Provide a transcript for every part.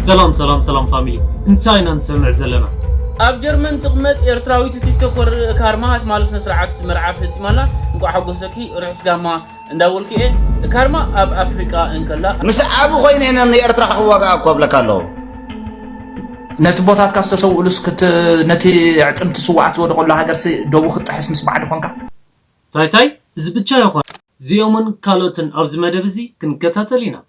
ሰላም ሰላም ሰላም ፋሚሊ እንታይ ኢና ንሰምዕ ዘለና ኣብ ጀርመን ትቕመጥ ኤርትራዊት ቲክቶከር ካርማ ሃትማል ስነ ስርዓት መርዓ ፈጺማላ እንቋዕ ሓጎሰኪ ርሑስ ጋማ እንዳበልኩ እየ ካርማ ኣብ ኣፍሪቃ እንከላ ምስ ዓብ ኮይነ ኢና ንኤርትራ ክዋጋኣ እኮ ብለካ ኣለዉ ነቲ ቦታትካ ዝተሰውእሉስ ነቲ ዕፅምቲ ስዋኣት ዝወደቀሉ ሃገርሲ ደቡ ክትጥሕስ ምስ ባዕዲ ኮንካ ታይታይ እዚ ብቻ ይኾን እዚኦምን ካልኦትን ኣብዚ መደብ እዚ ክንከታተል ኢና።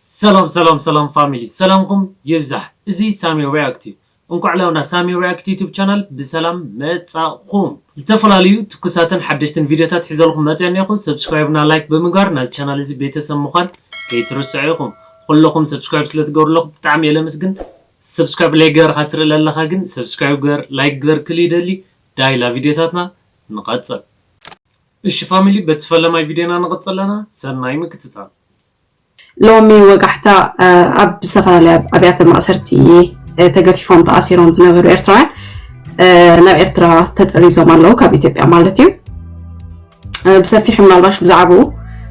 ሰላም ሰላም ሰላም ፋሚሊ ሰላምኩም ይብዛሕ እዚ ሳሚ ሪኣክት እዩ እንኳዕ ላብና ሳሚ ሪኣክት ዩቱብ ቻናል ብሰላም መፃእኹም ዝተፈላለዩ ትኩሳትን ሓደሽትን ቪድዮታት ሒዘልኹም መፅየ እኔኹ ሰብስክራይብ እና ላይክ ብምግባር ናዚ ቻናል እዚ ቤተሰብ ምዃን ከይትርስዑ ኢኹም ኹልኹም ሰብስክራይብ ስለ ትገብሩለኹም ብጣዕሚ እየ ለምስግን ሰብስክራይብ ለይገበርኻ ትርኢ ለለኻ ግን ሰብስክራይብ ግበር ላይክ ግበር ክል ይደሊ ዳይላ ቪድዮታትና ንቐፅል እሺ ፋሚሊ በቲ ፈለማይ ቪድዮና ንቕፅል ኣለና ሰናይ ምክትታል። ሎሚ ወጋሕታ ኣብ ዝተፈላለያ ኣብያተ ማእሰርቲ ተገፊፎም ተኣሲሮም ዝነበሩ ኤርትራውያን ናብ ኤርትራ ተጠሪዞም ኣለዉ ካብ ኢትዮጵያ ማለት እዩ ብሰፊሑ ምናልባሽ ብዛዕባኡ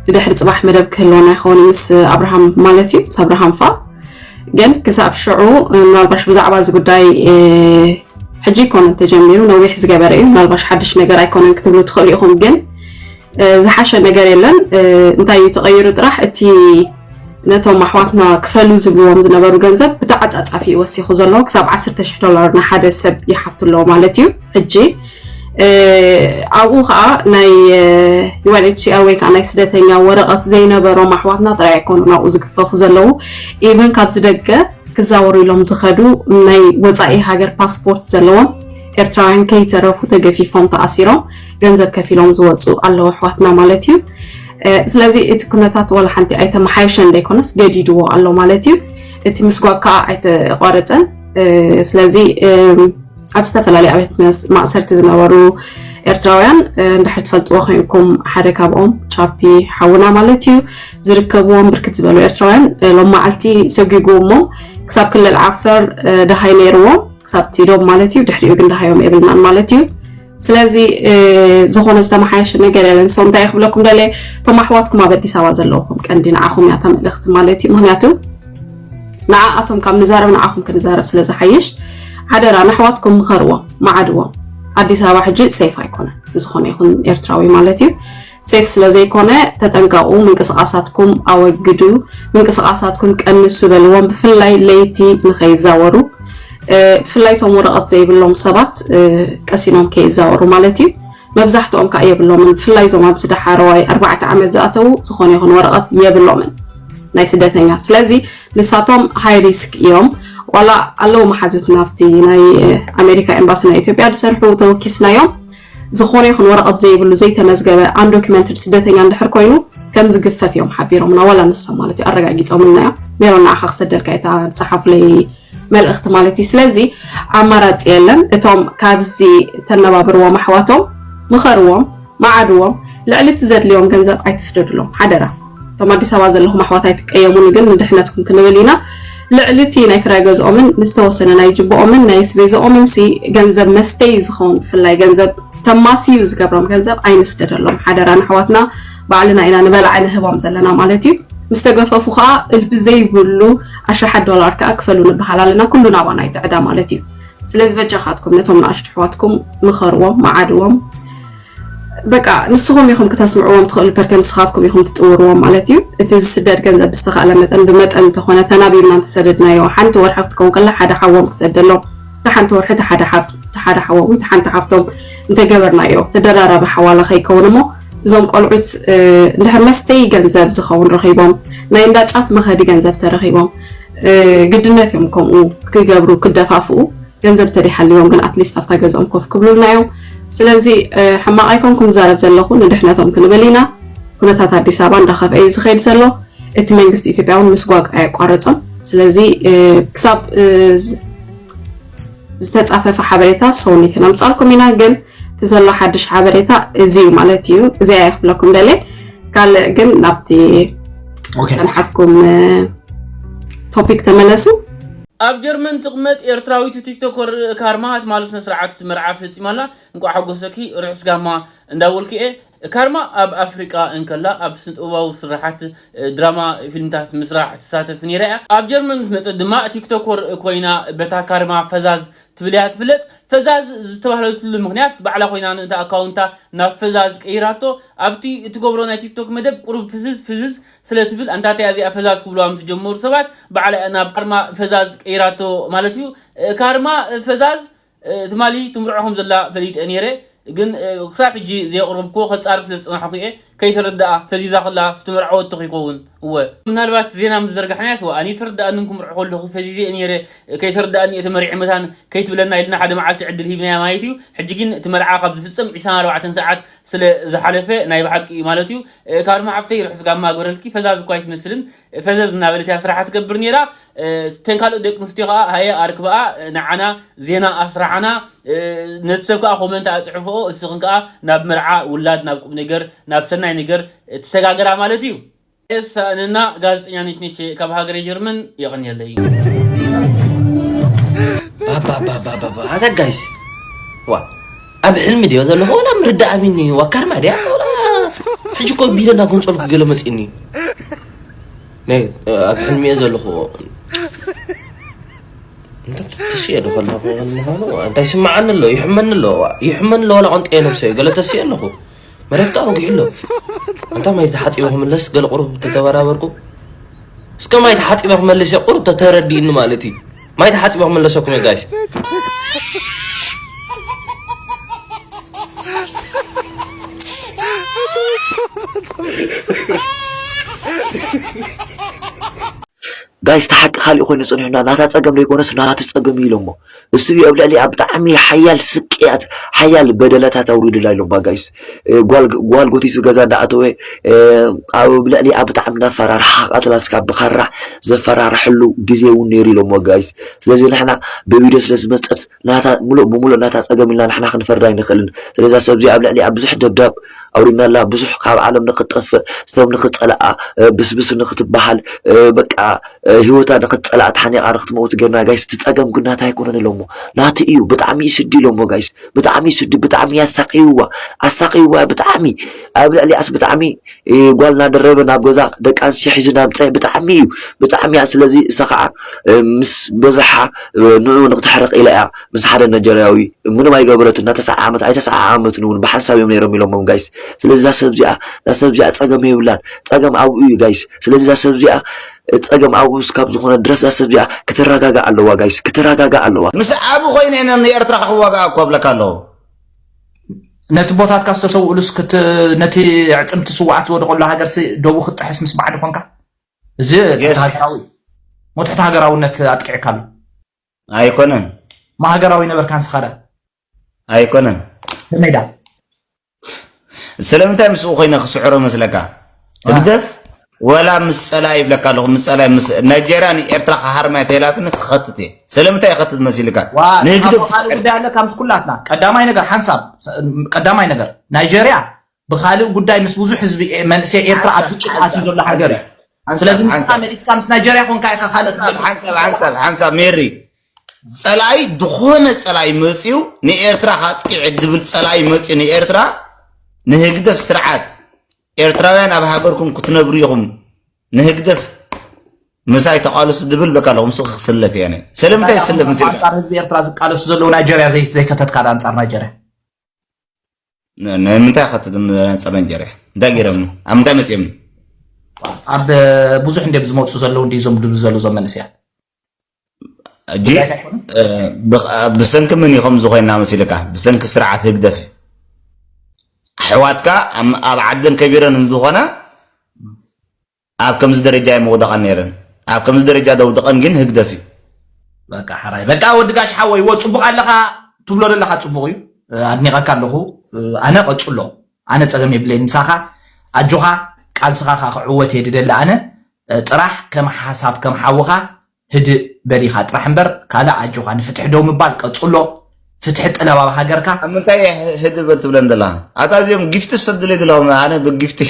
ብድሕሪ ፅባሕ መደብ ክህልወና ይኸውን ምስ ኣብርሃም ማለት እዩ ምስ ኣብርሃም ፋ ግን ክሳብ ሽዑ ምናልባሽ ብዛዕባ እዚ ጉዳይ ሕጂ ይኮነን ተጀሚሩ ነዊሕ ዝገበረ እዩ ምናልባሽ ሓድሽ ነገር ኣይኮነን ክትብሉ ትኽእሉ ኢኹም ግን ዝሓሸ ነገር የለን እንታይ እዩ ተቐይሩ ጥራሕ እቲ ነቶም ኣሕዋትና ክፈሉ ዝብልዎም ዝነበሩ ገንዘብ ብተዓፃፃፊ እዩ ወሲኹ ዘሎ ክሳብ 10 ሽሕ ዶላር ንሓደ ሰብ ይሓቱ ኣለዎ ማለት እዩ ሕጂ ኣብኡ ከዓ ናይ ዩኤንኤችሲኣር ወይ ከዓ ናይ ስደተኛ ወረቐት ዘይነበሮም ኣሕዋትና ጥራይ ኣይኮኑ ናብኡ ዝግፈፉ ዘለዉ ኢቨን ካብዚ ደገ ክዛወሩ ኢሎም ዝኸዱ ናይ ወፃኢ ሃገር ፓስፖርት ዘለዎም ኤርትራውያን ከይተረፉ ተገፊፎም ተኣሲሮም ገንዘብ ከፊሎም ዝወፁ ኣለዉ ኣሕዋትና ማለት እዩ ስለዚ እቲ ኩነታት ዋላ ሓንቲ ኣይተመሓየሸን ዘይኮነስ ገዲድዎ ኣሎ ማለት እዩ እቲ ምስጓግ ከዓ ኣይተቋረፀን ስለዚ ኣብ ዝተፈላለዩ ኣብያት ማእሰርቲ ዝነበሩ ኤርትራውያን እንድሕር ትፈልጥዎ ኮይንኩም ሓደ ካብኦም ቻፒ ሓውና ማለት እዩ ዝርከብዎም ብርክት ዝበሉ ኤርትራውያን ሎም መዓልቲ ሰጒጉ እሞ ክሳብ ክልል ዓፈር ደሃይ ነይርዎም ክሳብ ቲዶም ማለት እዩ ድሕሪኡ ግን ደሃዮም የብልናን ማለት እዩ ስለዚ ዝኾነ ዝተመሓየሸ ነገር የለን ሰው እንታይ ክብለኩም ደለ እቶም ኣሕዋትኩም ኣብ ኣዲስ ኣበባ ዘለኹም ቀንዲ ንዓኹም እያ ተመልእኽቲ ማለት እዩ ምክንያቱ ንዓኣቶም ካብ ንዛረብ ንዓኹም ክንዛረብ ስለ ዝሓይሽ ሓደራ ንኣሕዋትኩም ምኸርዎም መዓድዎም ኣዲስ ኣበባ ሕጂ ሰይፍ ኣይኮነን ንዝኾነ ይኹን ኤርትራዊ ማለት እዩ ሴፍ ስለ ዘይኮነ ተጠንቀቁ ምንቅስቃሳትኩም ኣወግዱ ምንቅስቃሳትኩም ቀንሱ በልዎም ብፍላይ ለይቲ ንከይዛወሩ ብፍላይ ቶም ወረቀት ዘይብሎም ሰባት ቀሲኖም ከይዛወሩ ማለት እዩ መብዛሕትኦም ከዓ የብሎምን ብፍላይ እዞም ኣብዚ ዳሓረዋይ ኣርባዕተ ዓመት ዝኣተዉ ዝኾነ ይኹን ወረቐት የብሎምን ናይ ስደተኛ ስለዚ ንሳቶም ሃይ ሪስክ እዮም ዋላ ኣለዉ መሓዙት ናብቲ ናይ ኣሜሪካ ኤምባሲ ናይ ኢትዮጵያ ዝሰርሑ ተወኪስናዮም ዝኾነ ይኹን ወረቐት ዘይብሉ ዘይተመዝገበ፣ Undocumented፣ ስደተኛ እንድሕር ኮይኑ ከም ዝግፈፍ እዮም ሓቢሮምና ዋላ ንሶም ማለት እዩ ኣረጋጊጾምልና እዮም። ሜሮን ንዓኻ ክሰደልካ እታ ዝጸሓፉለይ መልእኽቲ ማለት እዩ። ስለዚ ኣማራጺ የለን። እቶም ካብዚ ተነባብርዎም ኣሕዋቶም ምኸርዎም፣ መዓድዎም፣ ልዕሊ እቲ ዘድልዮም ገንዘብ ኣይትስደድሎም ሓደራ። እቶም ኣዲስ ኣበባ ዘለኹም ኣሕዋት ኣይትቀየሙኒ ግን ንድሕነትኩም ክንብል ኢና ልዕሊ እቲ ናይ ክራይ ገዝኦምን ዝተወሰነ ናይ ጅብኦምን ናይ ስቤዝኦምን ሲ ገንዘብ መስተይ ዝኸውን ብፍላይ ገንዘብ ተማስዩ ዝገብሮም ገንዘብ ኣይንስደደሎም ሓደራ ንኣሕዋትና ባዕልና ኢና ንበላዕ ንህቦም ዘለና ማለት እዩ ምስ ተገፈፉ ከዓ እልቢ ዘይብሉ ኣሽሓት ዶላር ከዓ ክፈሉ ንበሃል ኣለና ኩሉ ናባና ይትዕዳ ማለት እዩ ስለዚ በጃኻትኩም ነቶም ንኣሽቱ ኣሕዋትኩም ምኸርዎም መዓድዎም በቃ ንስኹም ኢኹም ክተስምዕዎም ትኽእሉ ፐርከ ንስኻትኩም ኢኹም ትጥውርዎም ማለት እዩ እቲ ዝስደድ ገንዘብ ብዝተኻእለ መጠን ብመጠን እንተኾነ ተናቢብና እንተሰደድናዮ ሓንቲ ወርሒ ክትከውን ከላ ሓደ ሓዎም ክሰደሎም እቲ ሓንቲ ወርሒ እቲ ሓደ ሓዎም እቲ ሓንቲ ሓፍቶም እንተገበርናዮ ተደራራቢ ሓዋላ ከይከውን እሞ እዞም ቆልዑት እንድሕር መስተይ ገንዘብ ዝኸውን ረኺቦም ናይ እንዳጫት መኸዲ ገንዘብ ተረኺቦም ግድነት እዮም ከምኡ ክገብሩ ክደፋፍኡ ገንዘብ ተደይሃልዎም ግን ኣትሊስት ኣብታ ገዝኦም ኮፍ ክብሉልና እዮም ስለዚ ሕማቅ ኣይኮንኩን ዝዛረብ ዘለኹ ንድሕነቶም ክንብል ኢና ኩነታት ኣዲስ ኣበባ እንዳኸፍአ እዩ ዝኸይድ ዘሎ እቲ መንግስቲ ኢትዮጵያ እውን ምስጓግ ኣየቋረጾን ስለዚ ክሳብ ዝተጻፈፈ ሓበሬታ ሰውኒ ክነምጻልኩም ኢና ግን እቲ ዘሎ ሓድሽ ሓበሬታ እዚ እዩ ማለት እዩ እዚኣ ይክብለኩም ደለ ካልእ ግን ናብቲ ፀንሓትኩም ቶፒክ ተመለሱ ኣብ ጀርመን ትቅመጥ ኤርትራዊት ቲክቶከር ካርማ ትማሊ ስነ ስርዓት መርዓ ፈጺማ ኣላ እንቋዕ ሓጎሰኪ ርሑስ ጋማ እንዳበልኩ እየ ካርማ ኣብ ኣፍሪቃ እንከላ ኣብ ስነጥበባዊ ስርሓት ድራማ ፊልምታት ምስራሕ ትሳተፍ ኔራ እያ ኣብ ጀርመን ምስ መጸት ድማ ቲክቶኮር ኮይና በታ ካርማ ፈዛዝ ትብል እያ ትፍለጥ ፈዛዝ ዝተባህለትሉ ምኽንያት ባዕላ ኮይና ንእታ ኣካውንታ ናብ ፈዛዝ ቀይራቶ ኣብቲ እትገብሮ ናይ ቲክቶክ መደብ ቁሩብ ፍዝዝ ፍዝዝ ስለ ትብል ኣንታተይ ኣዚኣ ፈዛዝ ክብልዋ ምስ ጀመሩ ሰባት ባዕላ ናብ ካርማ ፈዛዝ ቀይራቶ ማለት እዩ ካርማ ፈዛዝ ትማሊ ትምርዖ ከም ዘላ ፈሊጠ ኔረ ግን ክሳብ ሕጂ ዘየቅረብክዎ ከጻሪ ስለ ዝጸናሕኩ እየ ከይተረደኣ ፈዚዛ ከላ ዝተመርዓወቶ ከይከውን እወ ምናልባት ዜና ምስ ዘርጋሕናያስ ዋእ ኣነ ኣይተረደኣንን ክምርዖ ከለኩ ፈዚዘ እየ ኔረ ከይተረደኣኒ እየ ተመሪዐ መታን ከይትብለና ኢልና ሓደ መዓልቲ ዕድል ሂብናያ ማየት እዩ ሕጂ ግን እቲ መርዓ ካብ ዝፍጸም ዕስራን ኣርባዕተን ሰዓት ስለ ዝሓለፈ ናይ ብሓቂ እዩ ማለት እዩ ካብ ድማ ሓፍተይ ርሑስ ጋማ ግበረልኪ ፈዛዝ እኳ ኣይትመስልን ፈዘዝ እናበለት እያ ስራሓ ትገብር ነይራ ተን ካልኦት ደቂ ኣንስትዮ ከዓ ሃየ ኣርክበኣ ንዓና ዜና ኣስራዓና ነቲ ሰብ ከዓ ኮመንት ኣፅሕፍኦ እስኽን ከዓ ናብ መርዓ ውላድ ናብ ቁም ነገር ናብ ሰናይ ነገር ትሰጋገራ ማለት እዩ የሳእንና ጋዜጠኛ ነሽነሽ ካብ ሃገረ ጀርመን የቐንየለይ። ባባባባባ ኣታ ጋይስ ዋ ኣብ ሕልሚ ድዮ ዘለኹ ወላ ምርዳእ ኣብኒ ዋ ካርማ ድያ ወላ ሕጂ እኮ ቢለ እናጎንፀሉ ክገለ መፅእኒ ናይ ኣብ ሕልሚ እየ ዘለኹ ተስየ ዶ ከለኹ ምዃኑ እንታይ ስምዓኒ ኣሎ ይሕመኒ ኣሎ ይሕመኒ ኣሎ ዋላ ቆንጠየ ነብሰ ገለ ተስየ ኣለኹ መረግጣ ወጊሑ ኣሎ ኣንታ ማይ ተሓፂበ ክምለስ ገለ ቁሩብ ተተበራበርኩ እስከ ማይ ተሓፂበ ክመልስ እየ ቁሩብ ተተረዲእኒ ማለት እዩ ማይ ተሓፂበ ክመለሰኩም እየ ጋይስ ጋይስ ተሓቂ ካሊእ ኮይኑ ፅንሑና ናታ ፀገም ዘይኮነስ ናቱ ፀገም እዩ ኢሎሞ እሱ እዩ ኣብ ልዕሊኣ ብጣዕሚ ሓያል ስቅያት ሓያል በደላታት ኣውሪዱላ ኢሎም ባጋይስ ጓል ጎቲሱ ገዛ እንዳኣተወ ኣብ ልዕሊኣ ብጣዕሚ እናፈራርሓ ቀትላ ስካብ ብካራ ዘፈራርሐሉ ግዜ እውን ነይሩ ኢሎም ወጋይስ ስለዚ ንሕና ብቪድዮ ስለ ዝመፀት ናታ ሙሉእ ብሙሉእ ናታ ፀገም ኢልና ንሕና ክንፈርዳ ኣይንኽእልን ስለዛ ሰብዚ ኣብ ልዕሊኣ ብዙሕ ደብዳብ ኣውሪናላ ብዙሕ ካብ ዓለም ንክትጠፍእ ሰብ ንክትጸልኣ ብስብስ ንክትበሃል በቃ ሂወታ ንክትጸልኣ ተሓኒቓ ንክትመውት ገርና ጋይስ እቲ ጸገም ግን ናታ ኣይኮነን ኢሎሞ ናቲ እዩ ብጣዕሚ እዩ ስዲ ኢሎሞ ጋይስ ብጣዕሚ እዩ ስዲ ብጣዕሚ እዩ ኣሳቅይዋ ኣሳቅይዋ ብጣዕሚ ኣብ ልዕሊኣስ ብጣዕሚ ጓል እናደረበ ናብ ገዛ ደቂ ኣንስትዮ ሒዙ ናብ ፀ ብጣዕሚ እዩ ብጣዕሚ እያ ስለዚ እሳ ከዓ ምስ በዝሓ ንኡ ንክተሕርቕ ኢላ እያ ምስ ሓደ ነጀርያዊ ምንም ኣይገበረትን እና ተሳዓዓመት ኣይተሳዓዓመትን እውን ብሓንሳብ እዮም ነይሮም ኢሎሞም ጋይስ ስለዚ እዛ ሰብ እዚኣ እዛ ሰብ እዚኣ ጸገም የብላን ጸገም ኣብኡ እዩ ጋይስ ስለዚ እዛ ሰብ እዚኣ ጸገም ኣብኡ እስካብ ዝኾነ ድረስ እዛ ሰብ እዚኣ ክትረጋጋእ ኣለዋ ጋይስ ክትረጋጋእ ኣለዋ ምስ ዓቢ ኮይኑ እየ ንኤርትራ ክዋጋኣ እኮ እብለካ ኣለኹ ነቲ ቦታትካ ዝተሰውእሉስ ክት ነቲ ዕጽምቲ ስውኣት ዝወደቐሉ ሃገርሲ ዶቡ ክትጥሕስ ምስ ባዕዲ ኮንካ እዚ ትሕቲ ሃገራዊ ሞት ትሕቲ ሃገራውነት ኣጥቂዕካ ኣሎ ኣይኮነን። ማሃገራዊ ነበር ካንስኻዳ። ኣይኮነን። ከመይዳ። ስለምንታይ ምስኡ ኮይነ ክስዕሮ መስለካ ህግደፍ ወላ ምስ ጸላ ይብለካ ኣለኹ ምስ ጸላ ምስ ናይጀርያ ንኤርትራ ክሃርማያ ተላትኒ ክኸትት እየ ስለምንታይ ይኸትት መሲልካ ንህግደፍ ጉዳይ ኣለካ ምስ ኩላትና ቀዳማይ ነገር ሓንሳብ ቀዳማይ ነገር ናይጀርያ ብኻልእ ጉዳይ ምስ ብዙሕ ህዝቢ መንእሰይ ኤርትራ ኣብ ግጭት ኣትዩ ዘሎ ሃገር እዩ ስለዚ ንስኻ መሊስካ ምስ ናይጀርያ ኮንካ ኢኻ ካልእ ሓንሳብ ሓንሳብ ሓንሳብ ሜሪ ጸላኢ ዝኾነ ጸላኢ መጽዩ ንኤርትራ ካጥቂዕ ድብል ጸላኢ መጽዩ ንኤርትራ ንህግደፍ ስርዓት ኤርትራውያን ኣብ ሃገርኩም ክትነብሩ ኢኹም ንህግደፍ ምሳይ ተቃለሱ ድብል በቃ ኣለኹም ሱ ክስለፍ እየ ስለምንታይ ይስለፍ ምስ ህዝቢ ኤርትራ ዝቃለሱ ዘለዉ ናይጀርያ ዘይከተትካ ኣንጻር ናይጀርያ ናይ ምንታይ ከ ፀበንጀር እያ እንታይ ገይረምኒ ኣብ ምንታይ መፅኦምኒ ኣብ ብዙሕ እንዲም ዝመፁ ዘለዉ እንዲ ዞም ድሉ ዘሉ ዞም መንእሰያት እጂ ብሰንኪ ምን ይኸም ዝኾይና መሲልካ ብሰንኪ ስርዓት ህግደፍ ኣሕዋትካ ኣብ ዓድን ከቢረን እንዝኾና ኣብ ከምዚ ደረጃ እየን ምውደቀን ነይረን ኣብ ከምዚ ደረጃ ዘውደቀን ግን ህግደፍ እዩ። በቃ ሐራይ በቃ ወዲ ጋሽ ሓወይ ወ ጽቡቅ ኣለኻ ትብሎ ዘለኻ ጽቡቅ እዩ ኣድኒቀካ ኣለኹ ኣነ ቀጽሎ ኣነ ጸገም የብለይ ምሳኻ ኣጆኻ ቃልስኻ ክዕወት እየ ድደሊ ኣነ ጥራሕ ከም ሓሳብ ከም ሓውኻ ህድእ በል ኢካ ጥራሕ እምበር ካልእ ኣጆካ ንፍትሒ ደው ምባል ቀጽሎ ፍትሒ ጥለብ ኣብ ሃገርካ። ኣብ ምንታይ እያ ህድእ በል ትብለን ዘላ ኣታ እዚኦም ጊፍቲ ዝሰድሉ ይድለኹም ኣነ ብጊፍቲ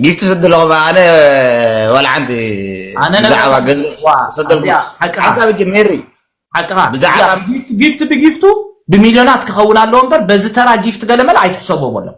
ጊፍቲ ዝሰድለኹም ኣነ ዋላ ሓንቲ ኣነ ነገር ብዛዕባ የለን። ገንዘብ ዋ ሰደልኩ ኣዚኣ ሓቅኻ ሓንቲ ኣብጀ ሜሪ ሓቅኻ እዚኣ ብዛዕባ ጊፍቲ ጊፍቲ ብጊፍቱ ብሚልዮናት ክኸውን ኣለዎ እምበር በዚ ተራ ጊፍቲ ገለመለ ኣይትሕሰቦ በሎም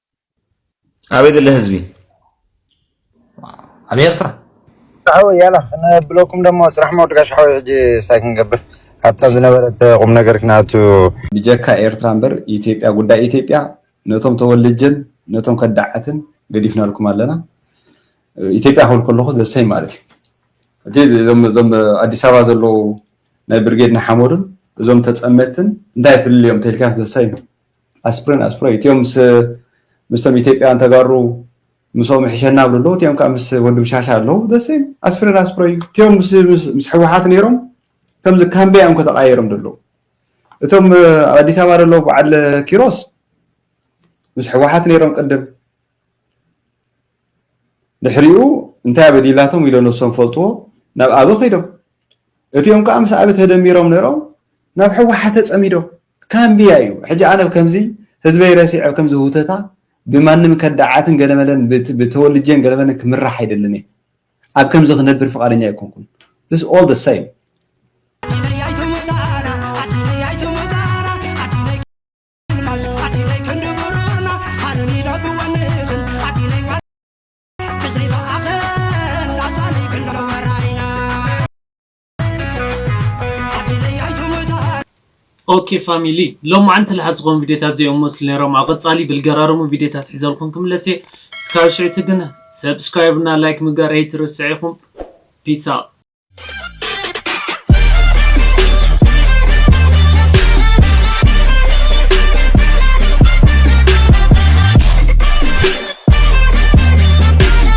ኣበይ ዘሎ ህዝቢ ኣብ ኤርትራ ሓወይ ያላ ክነብለኩም ደሞ ጽራሕ መወድቃሽ ሓወይ ሕጂ ሳይ ክንገብር ኣብታ ዝነበረት ቁም ነገር ክንኣቱ ብጀካ ኤርትራ እምበር ኢትዮጵያ ጉዳይ ኢትዮጵያ ነቶም ተወልጀን ነቶም ከዳዓትን ገዲፍናልኩም ኣለና ኢትዮጵያ ክብል ከለኹ ዘሰይ ማለት እዩ እቲ እዞም ኣዲስ ኣበባ ዘለዉ ናይ ብርጌድ ንሓመዱን እዞም ተፀመትን እንታይ ፍልልዮም ተልካስ ዘሰይ ኣስፕሪን ኣስፕሪን እቲኦም ምስ ምስቶም ኢትዮጵያውያን ተጋሩ ምስኦም ይሕሸና ብሉ ኣለዉ እቲኦም ከዓ ምስ ወዲ ብሻሻ ኣለዉ ደሴም ኣስፕሪን ኣስፕሮ እዩ እቲኦም ምስ ሕወሓት ነይሮም ከምዚ ካምበያ እዮም ከተቃየሮም ዘለዉ እቶም ኣብ ኣዲስ ኣበባ ዘለዉ በዓል ኪሮስ ምስ ሕወሓት ነይሮም ቅድም ድሕሪኡ እንታይ ኣበዲላቶም ኢሎ ነሶም ፈልጥዎ ናብ ኣበ ከይዶም እቲኦም ከዓ ምስ ኣበ ተደሚሮም ነይሮም ናብ ሕወሓት ተፀሚዶም ካምብያ እዩ ሕጂ ኣነ ብ ከምዚ ህዝበይ ረሲዐ ብ ከምዚ ሁተታ ብማንም ከዳዓትን ገለመለን ብ ተወልጄን ገለመለን ክምራሕ ኣይደልን እየ ኣብ ከምዚ ክነብር ፍቃደኛ ኣይኮንኩን this all the same። ኦኬ ፋሚሊ ሎማዓንቲ ልሓት ዝኾኑ ቪድዮታት እዚኦም መስሉ ነይሮም ኣብ ቐፃሊ ብልገራርሙ ቪድዮታት ሒዘልኩም ክምለስ እየ እስካብ ሽዕቲ ግን ሰብስክራይብ እና ላይክ ምግባር ኣይትርስዕ ኢኹም ፒስ ኣውት